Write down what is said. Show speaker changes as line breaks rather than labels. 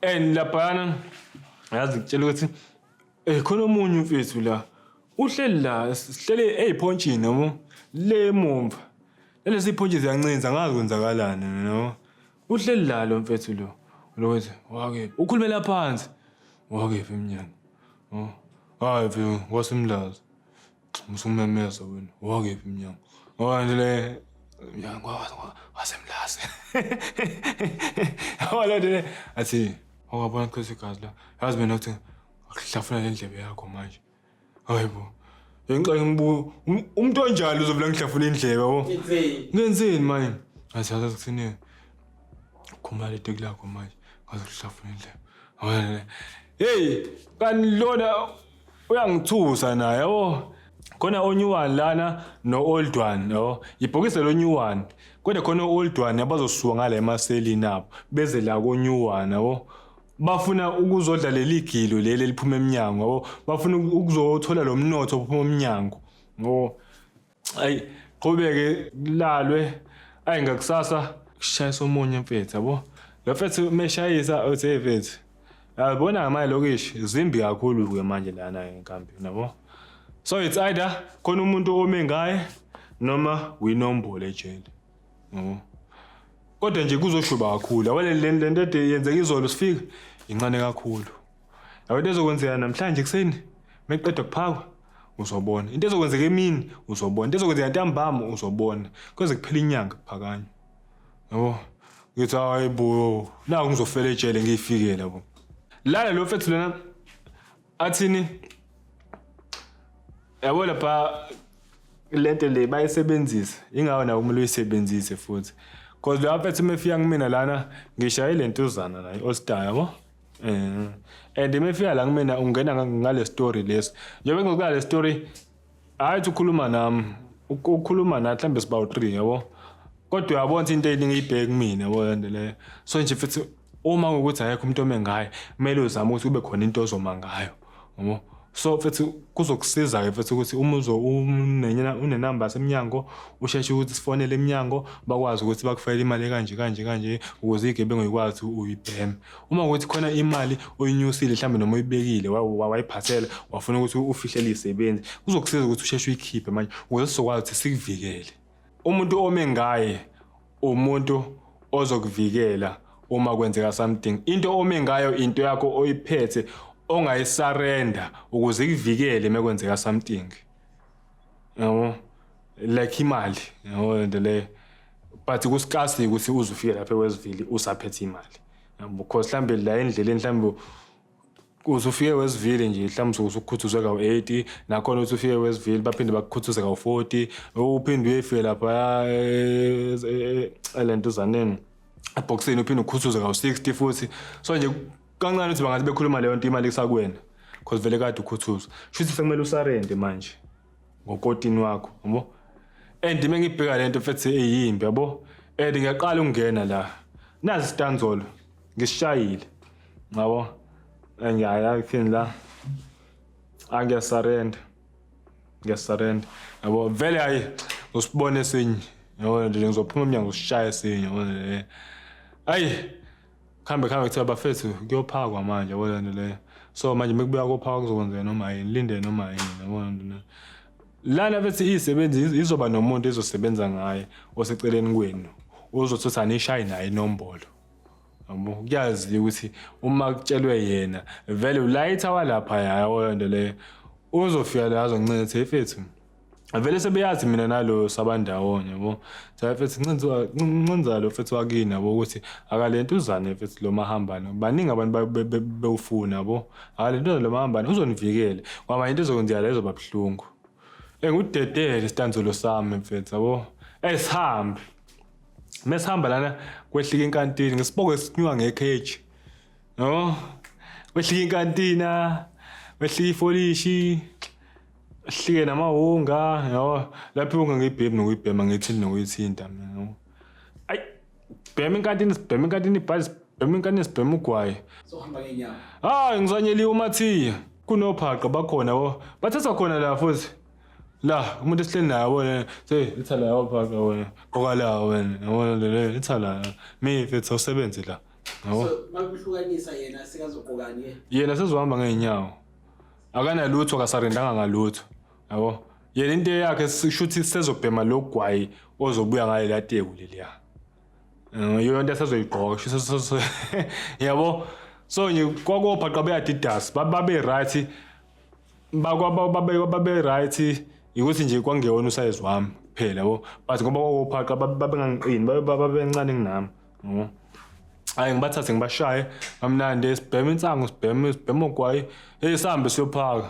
and laphayana yazi ngitshela ukuthi eh khona omunye umfethu la uhleli la sihlele eyiphontshini yabo le mumva lezi phontshe ziyancinza ngazi kwenzakalani no uhleli la lo mfethu lo lokuthi wake ukhulumela phansi wake emnyango oh hayi mfethu wasemlazi Musumemeza wena. Wakephi mnyango? Wanje le mnyango wasemlazi. Awala le athi awabona kuse gazi la. Yazi mina ukuthi akuhlafuna le ndlebe yakho manje. Hayibo. Ngenxa yombu umuntu onjalo uzovela ngihlafuna indlebe yabo. Ngenzeni manje? Athi yazi kusini. Khumula le teki lakho manje. Ngazokuhlafuna indlebe. Awala le. Hey, kanilona uyangithusa naye yabo khona onew one lana no-old one yabo yibhokise lo new one kodwa khona o-old one abazosuka ngala emaselini abo beze la ko-new one yabo bafuna ukuzodla leli gilo leli eliphuma emnyango yabo bafuna ukuzothola lo mnotho ophuma emnyango yabo ayi qhubeke kulalwe ayi ngakusasa kushayisa omunye mfethu yabo lo mfethu meshayisa uthi hey mfethu yabona ngamanye lokishi zimbi kakhulu ke manje lana enkampini yabo so it's either khona umuntu ome ngaye noma winombolo ejele yabo kodwa nje kuzoshuba kakhulu awale le le nto ede yenzeka izolo sifika incane kakhulu Yabo into ezokwenzeka namhlanje ekuseni meqeda kuphakwa uzobona. Into ezokwenzeka emini uzobona. Into ezokwenzeka ntambama uzobona. Kweze kuphela inyanga kuphakanywa. Yabo. Ngithi hayi bo. Naku ngizofela ejele ngiyifike labo. Lala lo mfethu lona athini? Yabo lapha lento le bayisebenzisa. Ingawo nawo kumele uyisebenzise futhi. Cause lo mfethu mefika kumina lana ngishayile intuzana naye All Star yabo. Eh. And imefika la kumina ungena nga- ngale story lesi. Njengoba ngikuka le story hayi uthi ukhuluma nami. Uk- Ukhuluma nathi mhlambe sibawu 3 yabo. Kodwa uyabona ukuthi into eyiningi ibheke kumina yabo yonke leyo. So nje futhi uma ukuthi ayekho umuntu ome ngayo, kumele uzame ukuthi kube khona into ozoma ngayo. Yabo. So mfethu kuzokusiza ke mfethu ukuthi uma uzo unenya unenumber semnyango usheshe ukuthi sifonele emnyango bakwazi ukuthi bakufayele imali kanje kanje kanje ukuze igebengu ikwazi uyibhema. Uma ukuthi khona imali oyinyusile mhlambe noma uyibekile wa- wa- wayiphathela wafuna ukuthi ufihlele isebenzi kuzokusiza ukuthi usheshe uyikhiphe manje ukuze sizokwazi ukuthi sikuvikele. Umuntu ome ngaye umuntu ozokuvikela uma kwenzeka something. Into ome ngayo into yakho oyiphethe ongayisarenda ukuze ikuvikele uma kwenzeka something. Yabo? Like imali, yabo le nto leyo. But kusicasi ukuthi uze ufike lapha eWestville usaphethe imali. Yabo? Because mhlambe la endleleni mhlambe uze ufike wesivile nje mhlawumbe usuke usukhuthuzwe kawu-80 nakhona uthi ufike wesivile baphinde bakukhuthuze kawu-40 uphinde uyefike lapha eh, eh, eh, le ntuzaneni ebhokisini uphinde ukhuthuze kawu-60 futhi so nje kancane ukuthi bangathi bekhuluma leyo nto imali kusakuwena because vele kade ukhuthuzwa sho ukuthi sekumele usarende manje ngokotini wakho yabo and uma ngibheka le nto fethi eyimbi yabo and ngiyaqala ukungena la nazi istanzolo Ngishayile. Ngabo. Ngiyaya kini la. Angiya surrender. Ngiya surrender. Yabo vele hayi usibone sinye. Yabo nje ngizophuma emnyango usishaye sinye. Yabo. Ayi. Khambe khambe kuthiwa bafethu kuyophakwa manje yabo lento leyo. So manje mekubuya kophakwa kuzokwenzeka noma yini. Linde noma yini. Yabo lento leyo. lana bethi isebenzi izoba nomuntu ezosebenza ngaye oseceleni kwenu ozothi anishaye naye inombolo Yabo, kuyazi ukuthi uma kutshelwe yena vele ulayitha walapha yayo nto leyo uzofika la azoncenza ethi efethu vele sebeyazi mina nalo sabandawonye yabo sayefethu ncenza ncenza lo fethu wakini yabo ukuthi akalento uzane fethu lo mahambane baningi abantu ba- be- be- bewufuna yabo akalento uzane lo mahambane uzonivikela kwaba into ezokwenzeka la izoba buhlungu engudedele isitanzulo sami mfethu yabo esihambe mesihamba lana kwehlika inkantini ngesiboko esinyuka ngekheji no kwehlika inkantina kwehlika ifolishi hlike namawunga yabo lapho iwunga ngiyibhemi nokuyibhema ngiyithinta nokuyithinta mina no ayi bhema inkantini sibhema inkantini ibhali sibhema inkantini sibhema ugwayi sohamba
ngenyama hayi ngisanyeliwe
umathiya kunophaqa bakhona bo bathatha khona la futhi la umuntu esihleli naye wena se litha la wapaka wena qoka la wena yabona le le litha la mi mfethu awusebenzi la yabo so makuhlukanisa
yena sekazoqokani ke yena sezohamba ngeenyawo
akanalutho akasarendanga ngalutho yabo yena into yakhe sishuthi sezobhema logwayi ozobuya ngale lateku leliya Eh, yiyo into esazoyigqoka sho so- so- so- yabo so nje kwakophaqa beadidas babe right bakwaba babe babe right ukuthi nje kwangewona usize wami kuphela yabo but ngoba wawophaqa babengangiqini babencane kunami yabo hayi ngibathathe ngibashaye kamnandi sibhema insangu sibhema sibhema ogwayi hey sihambe siyophaka